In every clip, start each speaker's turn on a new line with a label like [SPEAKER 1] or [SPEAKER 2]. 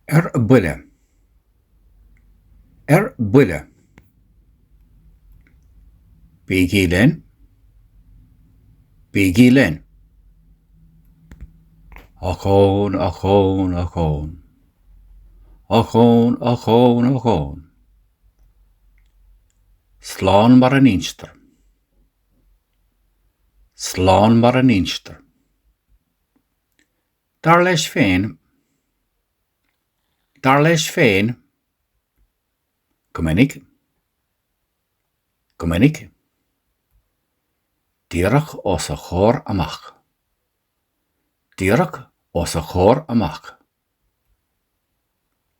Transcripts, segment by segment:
[SPEAKER 1] Ar buile. Ar buile. Bígí linn. Bígí linn. Ochón, ochón, ochón. Ochón, ochón, ochón. Slán mar a n-instear. slán mar a n-instear. Dar leis féin, dar leis féin, go minic, go minic, díreach os a chomhair amach, díreach os a chomhair amach.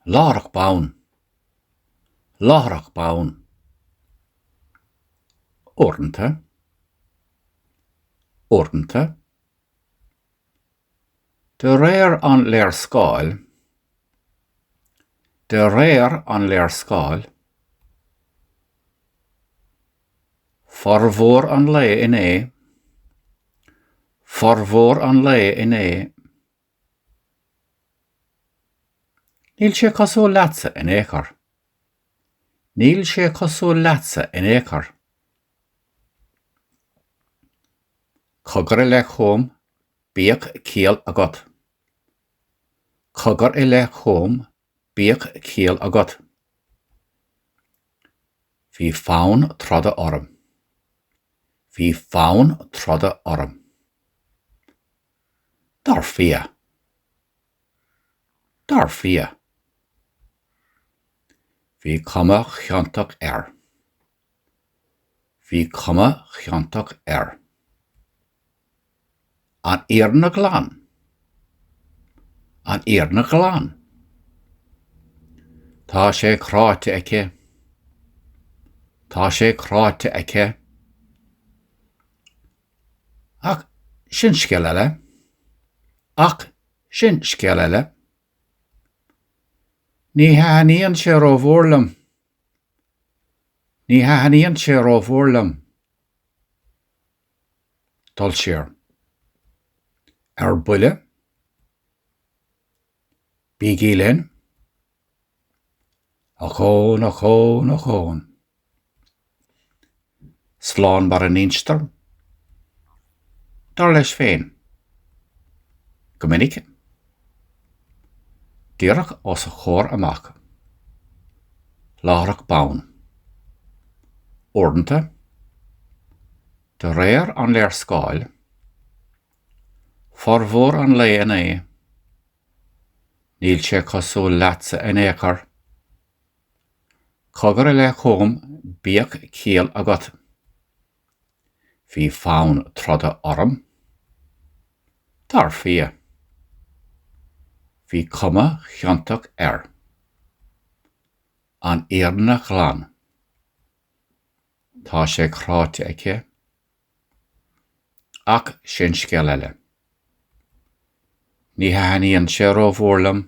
[SPEAKER 1] láithreach bonn, láithreach bonn, uaireanta, uaireanta, de réir an léarscáil, de réir an léarscáil, formhór an lae inné, formhór an lae inné. Níl sé cosúil leatsa in ao'chor. Níl sé cosúil leatsa in ao'chor. Cogar i leith chugam, bíodh ciall agat. Cogar i leith chugam, Bíodh ciall agat. Bhí fonn troda orm. Bhí fonn troda orm. Dar fia. Dar fia. Bhí cuma chiontach air. Bhí cuma chiontach air. An fhírinne ghlan. An fhírinne ghlan. Tá sé cráite aici. Tá sé cráite aici. Ach sin scéal eile. Ach sin scéal eile. Ní thaithníonn sé ró-mhór liom. Ní thaithníonn sé rómhór liom dul siar. Ar buile? Bígí linn. Ochón, ochón, ochón. slán mar a n-instear, dar leis féin, go minic, díreach os a chomhair amach, láithreach bonn, uaireanta, de réir an léarscáil, formhór an lae inné, níl sé cosúil leatsa in ao'chor, Cogar i leith chugam, bíodh ciall agat. Bhí fonn troda orm. Dar fia. Bhí cuma chiontach air. An fhírinne ghlan. Tá sé cráite aici. Ach sin scéal eile. Ní thaithníonn sé rómhór liom.